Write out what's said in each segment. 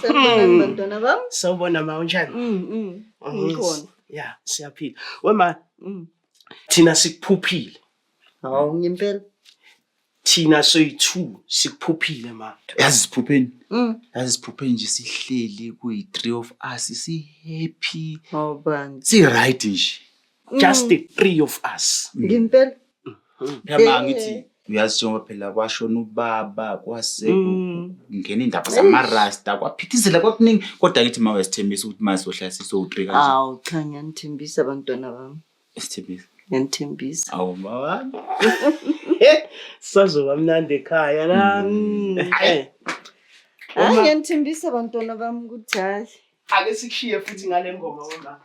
Sanibonani bantwana bam. Sawubona ma unjani? Mm, mm. Oh, Ngikhona. Ya, siyaphila. We ma Mm. thina sikuphuphile. Hawu ngempela. Thina soyi-2 sikuphuphile ma. yazi siphupheni Mm. yazi siphupheni nje sihleli kuyi-three of us si-happy Hawu bandla. si-right nje just mm. the three of us mm. ngempela mm-hmm. phela ngithi eh. uyazi njengoba phela kwashona ubaba kwase ngena indaba zamarasta kwaphithizela kwakuningi kodwa ngithi ma uyasithembisa ukuthi ma sizohlala sisowu-three kanje awu cha ngiyanithembisa abantwana bami esithembisa ngiyanithembisa awu mawami sazoba mnandi ekhaya la eh. hayi ngiyanithembisa abantwana bami ukuthi hayi ake sikushiye futhi ngale ngoma wemama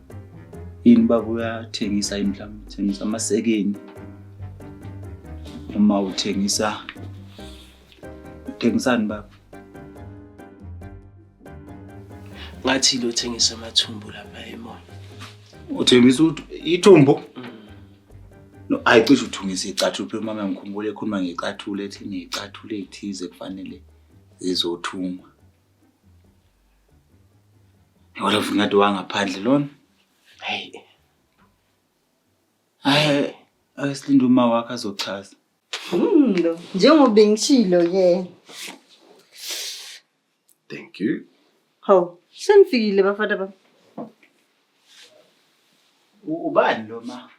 yini baba uyathengisa yini mhlawumbe uthengisa amasekeni uma uthengisa uthengisani baba ngathi lo thengisa amathumbu lapha emona uthengisa ithumbu mm. no ayicishe uthungisa icathulo phela mama ngikhumbule ekhuluma ngecathulo ethi necathulo ethize kufanele zizothungwa Yona vungati wangaphandle lona. Hey. Hayi, ayisilinde uma wakhe azochaza. Hmm, lo. Njengoba bengishilo yena. Thank you. Hawu, senifikile bafana bami. Ubani lo ma?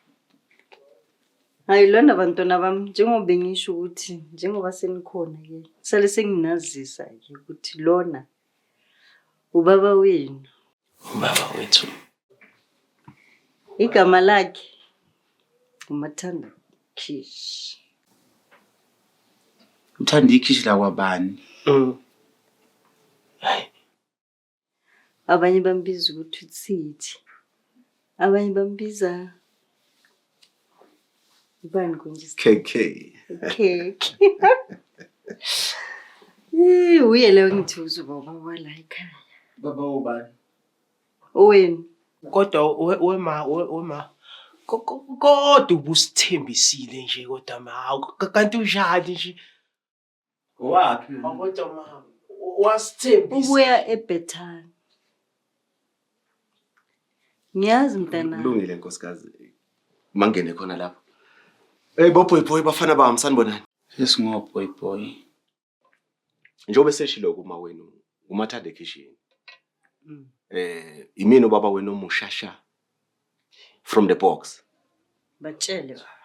Hayi lona bantwana bami njengoba bengisho ukuthi njengoba senikhona ke sale senginazisa ke ukuthi lona ubaba wenu. Ubaba wethu. Igama lakhe uMathanda Kish. Uthanda ikhishi lakwabani? Mm. Hayi. abanye bambiza ukuthi utsithi abanye bambiza ubani konje kk kk uye leyo ngithi uzubaba wala ekhaya baba ubani owenu kodwa wema wema kodwa ubusithembisile nje kodwa ma kanti unjani nje Waphi? Kodwa mama wasithembisa. Ubuya eBethani. Ngiyazi mntana. Kulungile nkosikazi. Mangene khona lapho. Hey bo boy boy bafana bami sanibonani. Yes ngo boy boy. Njengoba seshilo kuma wenu umathanda ekhishini. Mm. Eh imini ubaba wenu omushasha. from the box batshele baba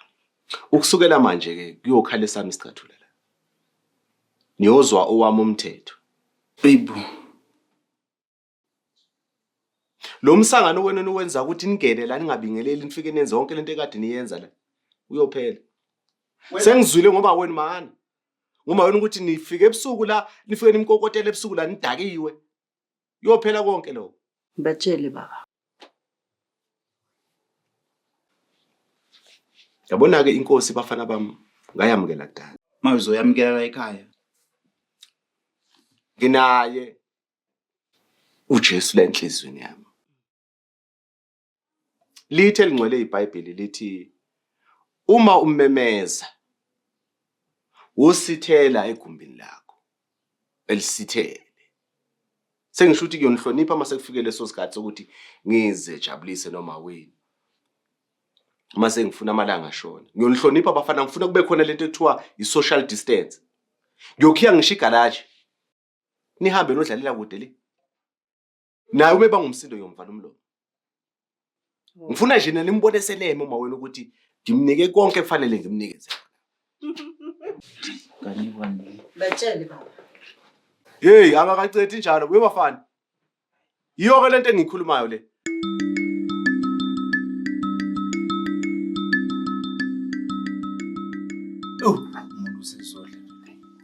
ukusukela manje ke kuyokhala esami isicathulo la niyozwa owami umthetho babe lo msangano wena niwenza ukuthi nigele la ningabingeleli nifike nenze yonke lento ekade niyenza la uyophela sengizwile ngoba wena mani ngoba wena ukuthi nifike ebusuku la nifike nimkokotela ebusuku la nidakiwe Kuyophela konke lokho. Ngibatshele baba. Yabona ke inkosi bafana bami ngayamukela kudala. Maye uzoyamukela la ekhaya. Nginaye uJesu lenhlizweni yami. Lithi elingcwele iBhayibheli lithi uma umemeza wosithela egumbini lakho elisithele sengisho ukuthi kuyonihlonipha uma sekufike leso sikhathi sokuthi ngizejabulise noma wini uma sengifuna amalanga ashona ngiyonihlonipha abafana ngifuna kube khona lento ekuthiwa i-social distance ngiyokhiya ngisho igalaji nihambe nodlalela kude le naye ubeba ngumsindo yomvala umlomo oh. ngifuna nje nani nimbone seleme uma wena ukuthi ngimnike konke kufanele ngimnikeze batshele baba yeyi akakacethi njalo kuye bafana yiyo-ke le nto engiyikhulumayo le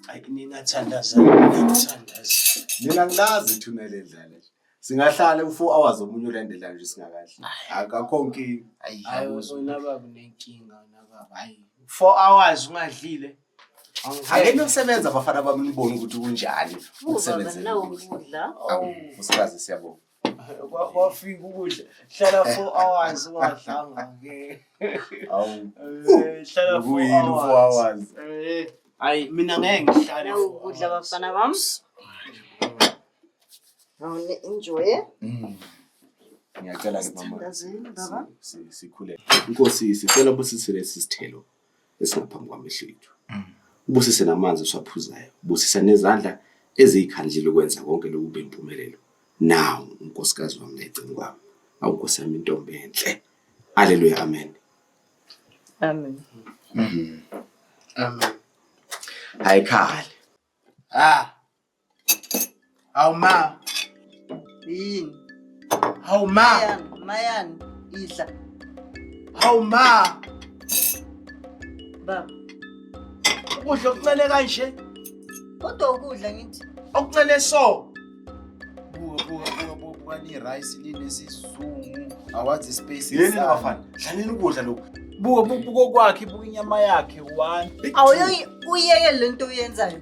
Hayi ningathandaza, ningathandaza. Mina ngilazi ithuna lendlala. Singahlala u-4 hours omunye ulandela nje singakahle. Akakho nkinga. Ayi, Hayi awuzwa. wena baba unenkinga wena baba. Hayi. 4 hours ungadlile. Angeke nosebenza abafana bami nibone ukuthi kunjani Uba ukusebenza. nawo ukudla. Awu, usibazi siyabonga. kwafika ukudla hlala four hours ungadlanga ke hlala four hours eh, hayi mina ngeke ngihlale ukudla bafana bami awune enjoy mm. ngiyacela ke mama sikhule inkosi sicela busisele sisithelo esingaphambi kwamehlo ethu mm. ubusise namanzi eswaphuzayo ubusise nezandla eziyikhandlile ukwenza konke lokhu kube impumelelo nawu unkosikazi wami lecini kwami awu nkosi yami intombi enhle aleluya amen amen mm. amen hayikhale ah Hawu ma. Yini? Hawu ma. Mayani, mayani, idla. Hawu ma. Baba, Ukudla okuncele kanje. kodwa ukudla ngithi. Okuncele so. Buka buka buka buka buka ni rice ni nesizungu. Awazi space. Yini insana. bafana? Dlaleni ukudla lokhu. Buka buka buka kwakhe buka inyama yakhe one. Awuyoyi uyeke lento uyenzayo.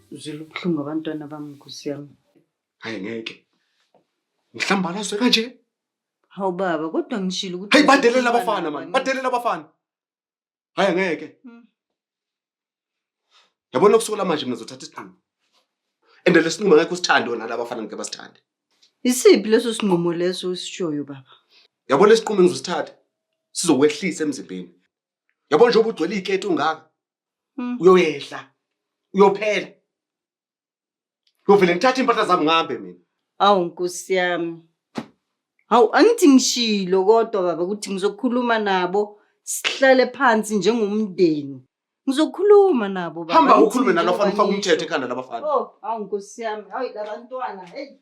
Uzwile ubuhlungu abantwana bami nkosi yami. Hayi ngeke. Ngihlambalazwe kanje. Hawu baba kodwa ngishilo ukuthi Hey badelela abafana man. Badelela abafana. Hayi ngeke. Hmm. Yabona kusukela manje mina ngizothatha isinqumo. And lesinqumo ngeke usithande wona laba bafana ngeke basithande. Isiphi leso sinqumo leso usishoyo baba? Yabona lesinqumo engizosithatha sizokwehlisa emzimbeni. Yabona njengoba ugcwele iketi ungaka. Hmm. uyoyehla uyophela uyovele ngithathe impahla zami ngihambe mina awu nkosi yami hawu angithi ngishilo kodwa baba ukuthi ngizokhuluma nabo sihlale phansi njengomndeni ngizokhuluma nabo baba hamba ukhulume nalofana ufake umthetho ekhanda labafana oh awu nkosi yami hayi labantwana heyi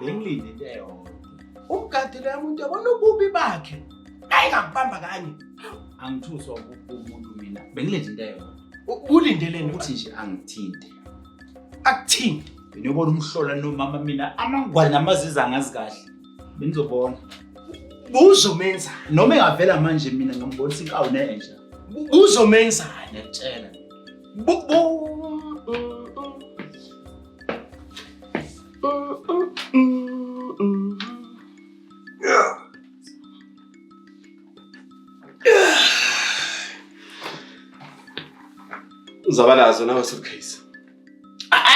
bengilinde into eyodwa umgadile yami umuntu yabona ububi bakhe ayi ngakubamba kanye angithuswa umuntu mina bengilinde into eyodwa ulindeleni ukuthi nje angithinte akuthinte beniyobona umhlola nomama mina amangwane namaziza angazi kahle benizobona buzomenza noma engavela manje mina ngambonisa inkawu nenja buzomenzani yakutshela uzaba nazo nawe suitcase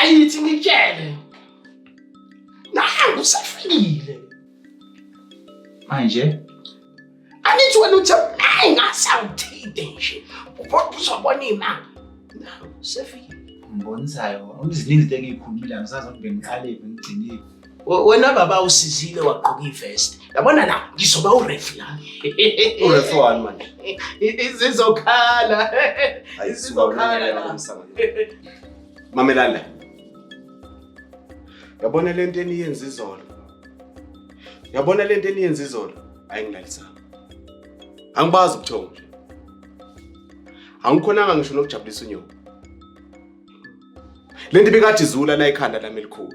ayithi ngitshele nangu usafikile manje angithi wena uthe ayi ngasawuthide nje ubona uzobona imanga sefike ngibonisayo ziningi izinto engiyikhulumile angisazi ukuthi bengiqalephi ngigcinile wena baba usizile wagqoka ivest yabona la ngizoba urefi la urefi wani manje izizokhala izizokhala la mamelana yabona lento eniyenza izolo Yabona lento eniyenza izolo ayingilalisanga. Angibazi ubuthongo nje. Angikhonanga ngisho nokujabulisa unyoko. Lento ibikade izula la ikhanda lami elikhulu.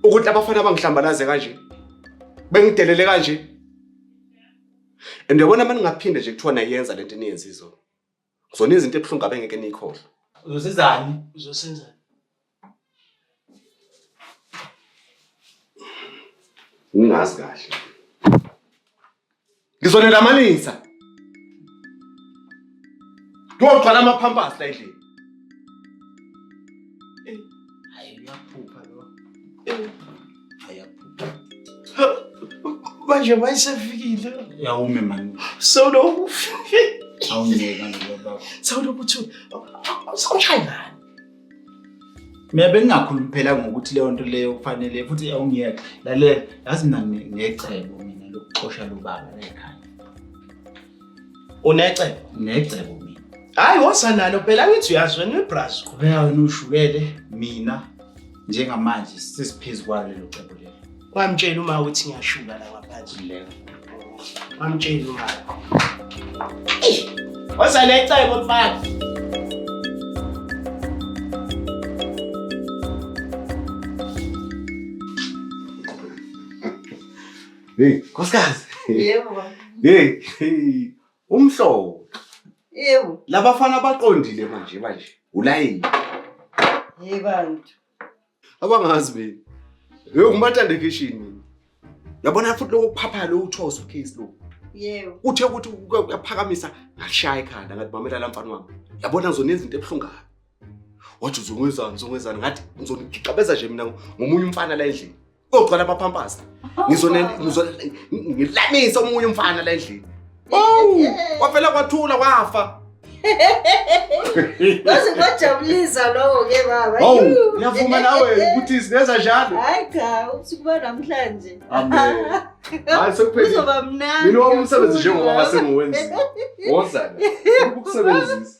Ukuthi abafana abangihlambalaze kanje. Bengidelele kanje. And yabona manje ngaphinde nje kuthiwa nayenza lento eniyenza izolo. Zona izinto ebuhlungu abengeke nikhohlwe. Uzosizani? Uzosenzani? Ningazi kahle. Ngizonelamanisa. Ngiyogcwala ama-pampers la endlini. Hayi uyaphupha lo. manje mayisefikile yawume mani solo awungeka ngoba solo kuthi sawushayana mina bengingakhulumi phela ngokuthi leyo nto leyo kufanele futhi awungiyeke lalela yazi mina ngecebo mina lokuxosha lobaba la ekhaya Unecebo? Necebo mina. Hayi wosa nalo phela ngithi uyazi wena uyibrazo. Qhubeka wena ushukele mina njengamanje sesiphezu kwalo lelo cebo lelo. Wamtshela uma uthi ngiyashuka la ngaphandle lelo. Wamtshela uma. Wosa necebo mfana. Hey, nkosikazi. Yebo. Hey, hey. Umhlobo. Yebo. Labafana baqondile manje manje. Ulayini. Hey bantu. Abangazi mina. Hey, ungimathanda ekhishini mina. Yabona futhi lokho kuphapha lo uthoso case lo. Yebo. Uthe ukuthi uyaphakamisa ngashaya ekhanda ngathi mamela lamfana wami. Yabona ngizona izinto ebuhlungayo. Wathi uzongwezana, uzongwezana ngathi ngizonigixabeza nje mina ngomunye umfana la endlini. Kogcwala abaphampasi. Oh, Ngizone ngizone ngilamisa omunye umfana la endlini. Oh! Kwavela kwathula kwafa. Waze kwajabulisa lowo ke baba. Oh, ngiyavuma nawe ukuthi sineza njalo. Hayi cha, usukuba namhlanje. Amen. Hayi sekuphelile. Kuzoba mnandi. Mina wami umsebenzi njengoba sengiwenza. Wozana. Ukusebenzisa.